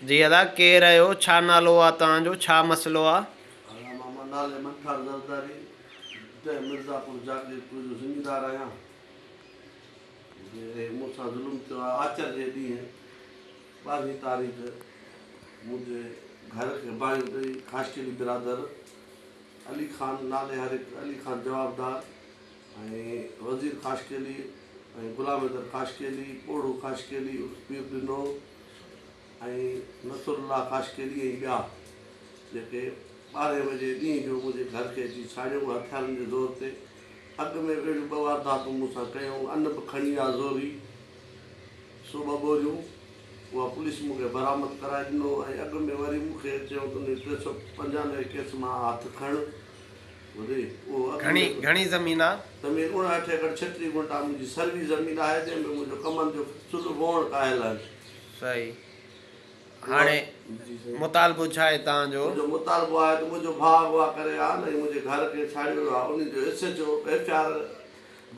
جي ادا ڪير آهيو ڇا نالو آ توهان جو ڇا مسئلو آ. هلا ماما نالي منٺار زرداري ڊهه مرزاپور جاگيرپور جو زميندار آهيان جي مون سان ظلم ٿيو آهي آچر جي ڏينهن ٻارهين تاريخ منهنجي گهر کي باهيون ڏئي خاشقلي برادر علي خان نالي هر هڪ علي خان جوابدار ۽ وزير خاشقيلي ۽ غلام حيدر خاشقيلي، پوڙهو خاشقيلي عرف پير ڏنو ۽ نصر الله خاشقيلي ۽ ٻيا جيڪي ٻارهين بجي ڏينهن جو منهنجي گهر کي اچي ساڙيو ۽ هٿيارن جي زور تي اڳ ۾ اهڙيون ٻه وارداتون مون سان ڪيائون ان به کڻي آ زوري سو ٻه ٻوريون اها پوليس مون کي برآمد ڪرائي ڏنو ۽ اڳ ۾ وري مون کي چيو تون ٽي سؤ پنجانوي ڪيس مان هٿ کڻ گهڻي گهڻي زمين آ. زمين اڻاٺ ايڪڙ ڇٽري گنٽا منهنجي سروي زمين آهي جنهن ۾ منهنجو ڪمند جو چلهه وهڻ ڪاهيل آهن. صحيح هاڻي مطالبو ڇا آهي توهان جو؟ منهنجو مطالبو آهي ته منهنجو ڀاء اغوا ڪري ويا آهن ۽ منهنجي گهر کي ڇاڙهي ويو آهي انهن جو S H O F R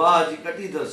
باهه جي ڪٽي اٿس.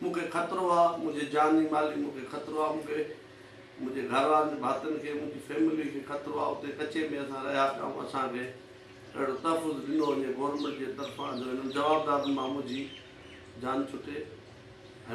مون کي خطرو آ منهنجي جاني مالي مون کي خطرو آ مون کي منهنجي گهر وارن ڀاتين کي منهنجي فيملي کي خطرو آ اتي ڪچي ۾ اسان رهيا پيا ۽ اسان کي اهڙو تحفظ ڏنو وڃي گورنمينٽ جي طرفان جو هنن جوابدارن مان منهنجي جان ڇٽي